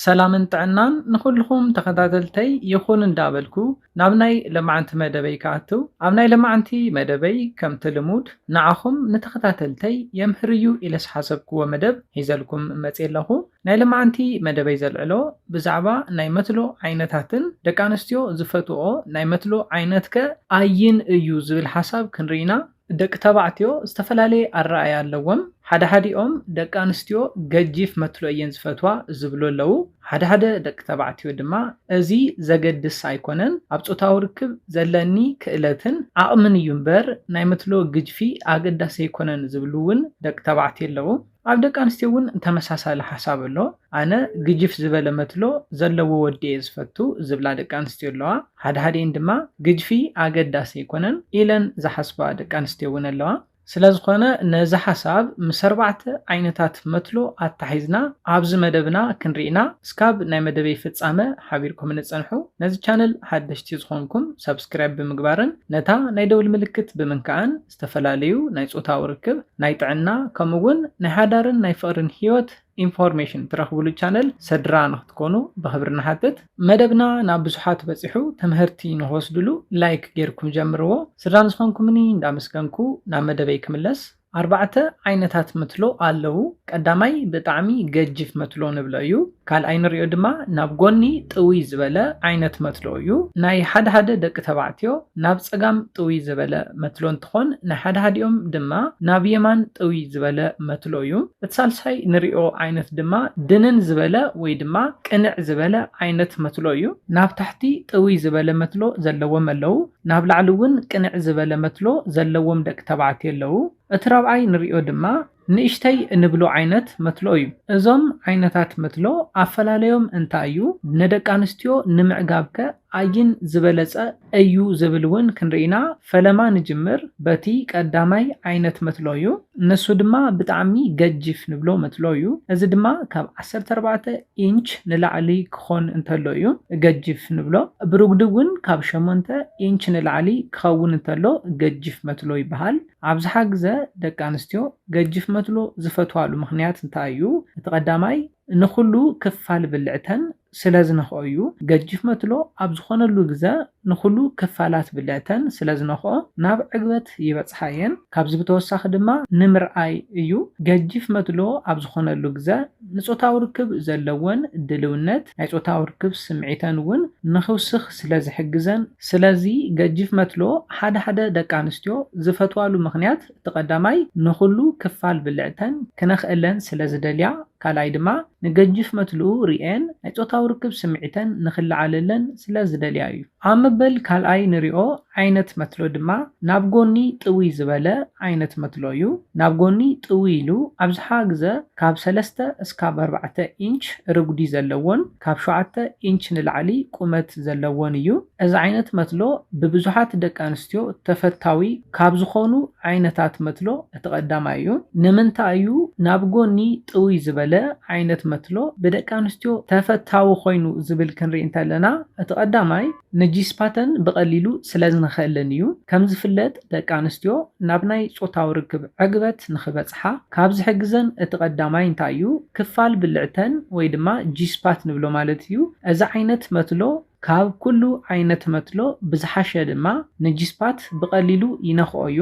ሰላምን ጥዕናን ንኹልኹም ተኸታተልተይ ይኹን እንዳበልኩ ናብ ናይ ለማዕንቲ መደበይ ክኣትው ኣብ ናይ ለማዕንቲ መደበይ ከምቲ ልሙድ ንዓኹም ንተኸታተልተይ የምህር እዩ ኢለ ዝሓሰብክዎ መደብ ሒዘልኩም መጽየ ኣለኹ ናይ ለማዕንቲ መደበይ ዘልዕሎ ብዛዕባ ናይ መትሎ ዓይነታትን ደቂ ኣንስትዮ ዝፈትወኦ ናይ መትሎ ዓይነትከ ኣይን እዩ ዝብል ሓሳብ ክንሪኢና ደቂ ተባዕትዮ ዝተፈላለየ ኣረኣእያ ኣለዎም፣ ሓደ ሓዲኦም ደቂ ኣንስትዮ ገጂፍ መትሎ እየን ዝፈትዋ ዝብሉ ኣለዉ፣ ሓደ ሓደ ደቂ ተባዕትዮ ድማ እዚ ዘገድስ ኣይኮነን ኣብ ጾታዊ ርክብ ዘለኒ ክእለትን ዓቕምን እዩ እምበር ናይ መትሎ ግጅፊ ኣገዳሲ ኣይኮነን ዝብሉ እውን ደቂ ተባዕትዮ ኣለዉ። ኣብ ደቂ ኣንስትዮ እውን ተመሳሳሊ ሓሳብ ኣሎ። ኣነ ግጅፍ ዝበለ መትሎ ዘለዎ ወዲ እየ ዝፈቱ ዝብላ ደቂ ኣንስትዮ ኣለዋ። ሓድሓዲኤን ድማ ግጅፊ ኣገዳሲ ኣይኮነን ኢለን ዝሓስባ ደቂ ኣንስትዮ እውን ኣለዋ። ስለዝኾነ ነዚ ሓሳብ ምስ ኣርባዕተ ዓይነታት መትሎ ኣተሓሒዝና ኣብዚ መደብና ክንርኢ ኢና። እስካብ ናይ መደበይ ፍጻመ ሓቢርኩምኒ ጽንሑ። ነዚ ቻነል ሓደሽቲ ዝኾንኩም ሰብስክራይብ ብምግባርን ነታ ናይ ደውል ምልክት ብምንካእን ዝተፈላለዩ ናይ ጾታዊ ርክብ፣ ናይ ጥዕና ከምኡ እውን ናይ ሓዳርን ናይ ፍቕርን ህይወት ኢንፎርሜሽን ትረኽብሉ ቻነል ሰድራ ንክትኮኑ ብኽብሪ ንሓትት። መደብና ናብ ብዙሓት በጺሑ ትምህርቲ ንክወስድሉ ላይክ ጌርኩም ጀምርዎ። ስድራ ንዝኾንኩምኒ እንዳመስገንኩ ናብ መደበይ ክምለስ። ኣርባዕተ ዓይነታት መትሎ ኣለዉ። ቀዳማይ ብጣዕሚ ገጂፍ መትሎ ንብሎ እዩ። ካልኣይ ንሪኦ ድማ ናብ ጎኒ ጥውይ ዝበለ ዓይነት መትሎ እዩ። ናይ ሓደ ሓደ ደቂ ተባዕትዮ ናብ ፀጋም ጥውይ ዘበለ መትሎ እንትኾን ናይ ሓደ ሃዲኦም ድማ ናብ የማን ጥውይ ዝበለ መትሎ እዩ። እቲ ሳልሳይ ንሪኦ ዓይነት ድማ ድንን ዝበለ ወይ ድማ ቅንዕ ዝበለ ዓይነት መትሎ እዩ። ናብ ታሕቲ ጥውይ ዝበለ መትሎ ዘለዎም ኣለው። ናብ ላዕሊ እውን ቅንዕ ዝበለ መትሎ ዘለዎም ደቂ ተባዕትዮ ኣለው። እቲ ራብዓይ ንሪኦ ድማ ንእሽተይ እንብሎ ዓይነት መትሎ እዩ። እዞም ዓይነታት መትሎ ኣፈላለዮም እንታይ እዩ? ንደቂ ኣንስትዮ ንምዕጋብ ከ ኣይን ዝበለጸ እዩ ዝብል እውን ክንርኢ ኢና። ፈለማ ንጅምር በቲ ቀዳማይ ዓይነት መትሎ እዩ። ንሱ ድማ ብጣዕሚ ገጂፍ ንብሎ መትሎ እዩ። እዚ ድማ ካብ ዓሰርተ ኣርባዕተ ኢንች ንላዕሊ ክኾን እንተሎ እዩ ገጂፍ ንብሎ። ብርጉዲ እውን ካብ ሸሞንተ ኢንች ንላዕሊ ክኸውን እንተሎ ገጂፍ መትሎ ይበሃል። ኣብዝሓ ግዘ ደቂ ኣንስትዮ ገጅፍ መትሎ ዝፈትዋሉ ምኽንያት እንታይ እዩ? እቲ ቀዳማይ ንኹሉ ክፋል ብልዕተን ስለዝነኽኦ እዩ። ገጅፍ መትሎ ኣብ ዝኾነሉ ግዘ ንኹሉ ክፋላት ብልዕተን ስለዝነኽኦ ናብ ዕግበት ይበፅሓ እየን። ካብዚ ብተወሳኺ ድማ ንምርኣይ እዩ። ገጅፍ መትሎ ኣብ ዝኾነሉ ግዘ ንጾታዊ ርክብ ዘለወን ድልውነት ናይ ጾታዊ ርክብ ስምዒተን እውን ንኽውስኽ ስለ ዝሕግዘን። ስለዚ ገጂፍ መትሎ ሓደ ሓደ ደቂ ኣንስትዮ ዝፈትዋሉ ምኽንያት እቲ ቀዳማይ ንኹሉ ክፋል ብልዕተን ክነኽእለን ስለ ዝደልያ ካልኣይ ድማ ንገጂፍ መትልኡ ርእየን ናይ ጾታዊ ርክብ ስምዒተን ንኽለዓለለን ስለ ዝደልያ እዩ። ኣብ መበል ካልኣይ ንሪኦ ዓይነት መትሎ ድማ ናብ ጎኒ ጥውይ ዝበለ ዓይነት መትሎ እዩ። ናብ ጎኒ ጥውይ ኢሉ ኣብዝሓ ግዘ ካብ ሰለስተ እስካብ ኣርባዕተ ኢንች ርጉዲ ዘለዎን ካብ ሸውዓተ ኢንች ንላዕሊ ቁመት ዘለዎን እዩ። እዚ ዓይነት መትሎ ብብዙሓት ደቂ ኣንስትዮ ተፈታዊ ካብ ዝኾኑ ዓይነታት መትሎ እቲ ቀዳማይ እዩ። ንምንታይ እዩ ናብ ጎኒ ጥውይ ዝበለ ዓይነት መትሎ ብደቂ ኣንስትዮ ተፈታዊ ኮይኑ ዝብል ክንሪኢ እንተለና እቲ ቀዳማይ፣ ነጂስፓተን ብቐሊሉ ስለዝንኸእለን እዩ። ከምዝፍለጥ ደቂ ኣንስትዮ ናብ ናይ ጾታዊ ርክብ ዕግበት ንኽበጽሓ ካብ ዝሕግዘን እቲ ቀዳማይ እንታይ እዩ? ክፋል ብልዕተን ወይ ድማ ጂስፓት ንብሎ ማለት እዩ። እዚ ዓይነት መትሎ ካብ ኩሉ ዓይነት መትሎ ብዝሓሸ ድማ ነጂስፓት ብቐሊሉ ይነኽኦ እዩ።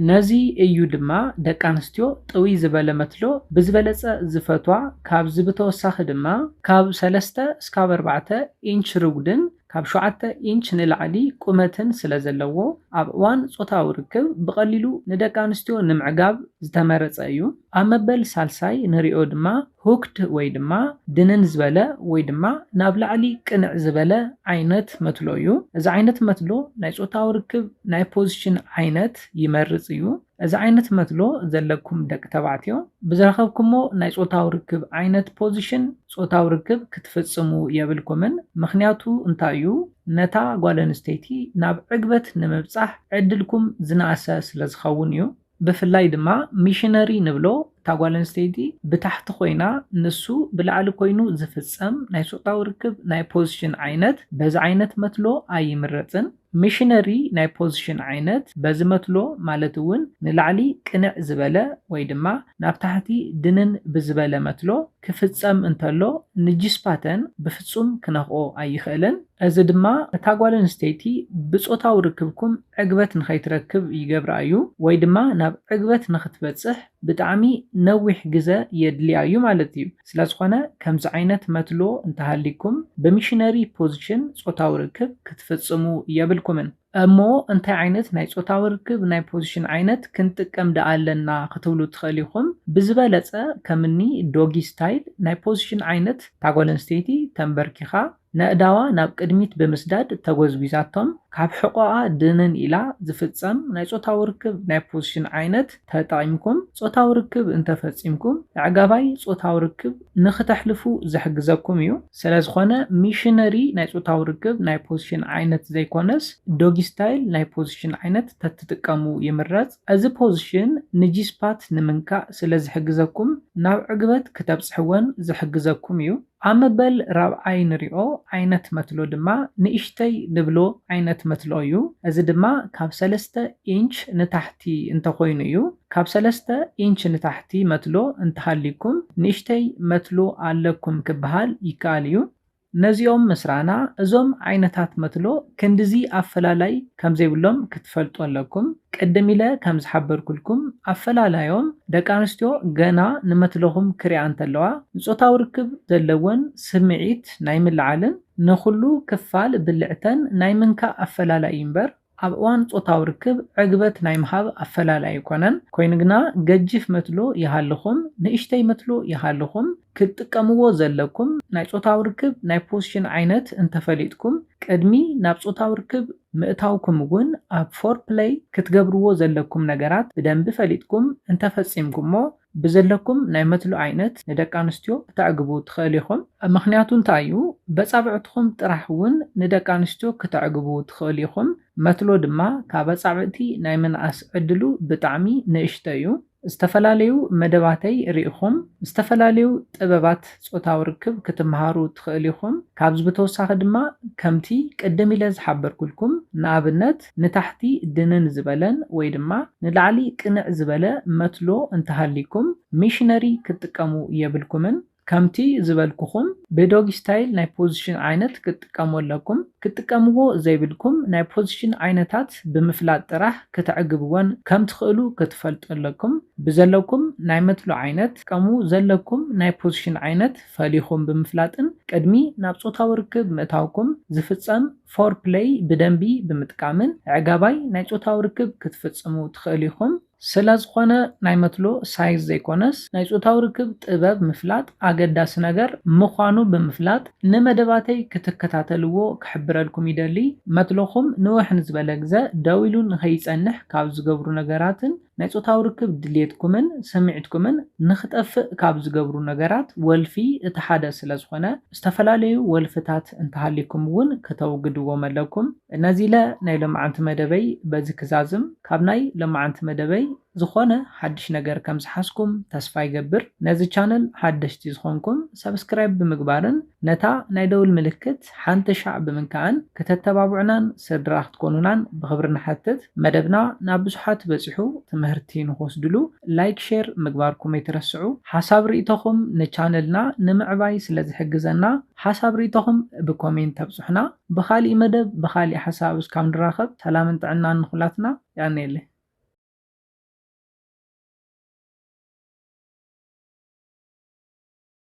ነዚ እዩ ድማ ደቂ ኣንስትዮ ጥውይ ዝበለ መትሎ ብዝበለጸ ዝፈትዋ፣ ካብዚ ብተወሳኺ ድማ ካብ ሰለስተ እስካብ ኣርባዕተ ኢንች ርጉድን ካብ ሸውዓተ ኢንች ንላዕሊ ቁመትን ስለ ዘለዎ ኣብ እዋን ጾታዊ ርክብ ብቐሊሉ ንደቂ ኣንስትዮ ንምዕጋብ ዝተመረጸ እዩ። ኣብ መበል ሳልሳይ ንሪኦ ድማ ሁክድ ወይ ድማ ድንን ዝበለ ወይ ድማ ናብ ላዕሊ ቅንዕ ዝበለ ዓይነት መትሎ እዩ። እዚ ዓይነት መትሎ ናይ ጾታዊ ርክብ ናይ ፖዝሽን ዓይነት ይመርጽ እዩ። እዚ ዓይነት መትሎ ዘለኩም ደቂ ተባዕትዮ ብዝረኸብኩሞ ናይ ጾታዊ ርክብ ዓይነት ፖዝሽን ጾታዊ ርክብ ክትፍጽሙ የብልኩምን ምኽንያቱ እንታይ እዩ ነታ ጓል ኣንስተይቲ ናብ ዕግበት ንምብጻሕ ዕድልኩም ዝነኣሰ ስለዝኸውን እዩ። ብፍላይ ድማ ሚሽነሪ ንብሎ እታ ጓል ኣንስተይቲ ብታሕቲ ኮይና ንሱ ብላዕሊ ኮይኑ ዝፍጸም ናይ ጾታዊ ርክብ ናይ ፖዝሽን ዓይነት በዚ ዓይነት መትሎ ኣይምረጽን። ሚሽነሪ ናይ ፖዝሽን ዓይነት በዚ መትሎ ማለት እውን ንላዕሊ ቅንዕ ዝበለ ወይ ድማ ናብ ታሕቲ ድንን ብዝበለ መትሎ ክፍጸም እንተሎ ንጂስፓተን ብፍጹም ክነኽኦ ኣይኽእልን። እዚ ድማ እታ ጓል ኣንስተይቲ ብጾታዊ ርክብኩም ዕግበት ንኸይትረክብ ይገብራ እዩ ወይ ድማ ናብ ዕግበት ንኽትበጽሕ ብጣዕሚ ነዊሕ ግዘ የድልያ እዩ ማለት እዩ። ስለዝኾነ ከምዚ ዓይነት መትሎ እንተሃልይኩም ብሚሽነሪ ፖዝሽን ፆታዊ ርክብ ክትፍፅሙ የብልኩምን። እሞ እንታይ ዓይነት ናይ ፆታዊ ርክብ ናይ ፖዝሽን ዓይነት ክንጥቀም ድኣ ኣለና ክትብሉ ትኽእል ኢኹም። ብዝበለፀ ከምኒ ዶጊ ስታይል ናይ ፖዝሽን ዓይነት እታ ጓል ኣንስተይቲ ተምበርኪኻ፣ ነእዳዋ ናብ ቅድሚት ብምስዳድ ተጎዝጒዛቶም ካብ ሕቖኣ ድንን ኢላ ዝፍጸም ናይ ጾታዊ ርክብ ናይ ፖዝሽን ዓይነት ተጠቒምኩም ጾታዊ ርክብ እንተፈጺምኩም ኣዕጋባይ ጾታዊ ርክብ ንክተሕልፉ ዝሕግዘኩም እዩ። ስለዝኾነ ሚሽነሪ ናይ ጾታዊ ርክብ ናይ ፖዝሽን ዓይነት ዘይኮነስ ዶጊ ስታይል ናይ ፖዝሽን ዓይነት ተትጥቀሙ ይምረጽ። እዚ ፖዝሽን ንጂ-ስፓት ንምንካእ ስለዝሕግዘኩም ናብ ዕግበት ክተብጽሕወን ዝሕግዘኩም እዩ። ኣብ መበል ራብዓይ ንሪኦ ዓይነት መትሎ ድማ ንእሽተይ ንብሎ ዓይነት መትሎ እዩ። እዚ ድማ ካብ ሰለስተ ኢንች ንታሕቲ እንተኾይኑ እዩ። ካብ ሰለስተ ኢንች ንታሕቲ መትሎ እንተሃልዩኩም ንእሽተይ መትሎ ኣለኩም ክበሃል ይከኣል እዩ። ነዚኦም ምስ ረኣና እዞም ዓይነታት መትሎ ክንድዚ ኣፈላላይ ከም ዘይብሎም ክትፈልጡ ኣለኩም። ቅድም ኢለ ከም ዝሓበርኩልኩም ኣፈላላዮም ደቂ ኣንስትዮ ገና ንመትለኹም ክሪኣ እንተለዋ ንጾታዊ ርክብ ዘለወን ስምዒት ናይ ምልዓልን ንኹሉ ክፋል ብልዕተን ናይ ምንካእ ኣፈላላይ እዩ እምበር ኣብ እዋን ጾታዊ ርክብ ዕግበት ናይ ምሃብ ኣፈላላይ ኣይኮነን። ኮይኑ ግና ገጂፍ መትሎ ይሃልኹም ንእሽተይ መትሎ ይሃልኹም፣ ክትጥቀምዎ ዘለኩም ናይ ጾታዊ ርክብ ናይ ፖስሽን ዓይነት እንተፈሊጥኩም ቅድሚ ናብ ጾታዊ ርክብ ምእታውኩም እውን ኣብ ፎርፕለይ ክትገብርዎ ዘለኩም ነገራት ብደንቢ ፈሊጥኩም እንተፈጺምኩሞ ብዘለኩም ናይ መትሎ ዓይነት ንደቂ ኣንስትዮ ክተዕግቡ ትኸእሉ ኢኹም። ምኽንያቱ እንታይ እዩ በጻብዕትኹም ጥራሕ እውን ንደቂ ኣንስትዮ ክተዕግቡ ትኸእሉ ኢኹም መትሎ ድማ ካብ ኣጻብዕቲ ናይ ምንኣስ ዕድሉ ብጣዕሚ ንእሽቶ እዩ። ዝተፈላለዩ መደባተይ ርኢኹም ዝተፈላለዩ ጥበባት ጾታዊ ርክብ ክትመሃሩ ትኽእል ኢኹም። ካብዚ ብተወሳኺ ድማ ከምቲ ቅድም ኢለ ዝሓበርኩልኩም ንኣብነት ንታሕቲ ድንን ዝበለን ወይ ድማ ንላዕሊ ቅንዕ ዝበለ መትሎ እንተሃልይኩም ሚሽነሪ ክትጥቀሙ የብልኩምን። ከምቲ ዝበልኩኹም ብዶጊ ስታይል ናይ ፖዚሽን ዓይነት ክትጥቀሙ ኣለኩም። ክትጥቀምዎ ዘይብልኩም ናይ ፖዚሽን ዓይነታት ብምፍላጥ ጥራሕ ክተዕግብወን ከምትኽእሉ ክትፈልጡ ኣለኩም። ብዘለኩም ናይ መትሎ ዓይነት ክትጥቀሙ ዘለኩም ናይ ፖዚሽን ዓይነት ፈሊኹም ብምፍላጥን ቅድሚ ናብ ጾታዊ ርክብ ምእታውኩም ዝፍጸም ፎርፕለይ ብደንቢ ብምጥቃምን ኣዕጋባይ ናይ ጾታዊ ርክብ ክትፍጽሙ ትኽእሉ ኢኹም። ስለዝኾነ ናይ መትሎ ሳይዝ ዘይኮነስ ናይ ጾታዊ ርክብ ጥበብ ምፍላጥ ኣገዳሲ ነገር ምዃኑ ብምፍላጥ ንመደባተይ ክትከታተልዎ ክሕብረልኩም ይደሊ። መትሎኹም ንውሕ ንዝበለ ግዘ ደው ኢሉ ንኸይጸንሕ ካብ ዝገብሩ ነገራትን ናይ ጾታዊ ርክብ ድልየትኩምን ስምዒትኩምን ንኽጠፍእ ካብ ዝገብሩ ነገራት ወልፊ እቲ ሓደ ስለዝኾነ ዝተፈላለዩ ወልፍታት እንተሃልዩኩም እውን ክተውግድዎም ኣለኩም። ነዚለ ናይ ሎምዓንቲ መደበይ በዚ ክዛዝም ካብ ናይ ሎምዓንቲ መደበይ ዝኾነ ሓድሽ ነገር ከም ዝሓዝኩም ተስፋ ይገብር ነዚ ቻነል ሓደሽቲ ዝኾንኩም subscribe ብምግባርን ነታ ናይ ደውል ምልክት ሓንቲ ሻዕ ብምንካእን ክተተባብዑናን ስድራ ክትኮኑናን ብኽብሪ ንሓትት መደብና ናብ ብዙሓት በጺሑ ትምህርቲ ንኽወስድሉ like share ምግባርኩም ኣይትረስዑ ሓሳብ ሪኢቶኹም ንቻነልና ንምዕባይ ስለ ዝሕግዘና ሓሳብ ሪኢቶኹም ብኮሜንት ኣብጹሑና። ብኻሊእ መደብ ብኻሊእ ሓሳብ እስካብ ንራኸብ ሰላምን ጥዕናን ንኹላትና የቀንየለይ።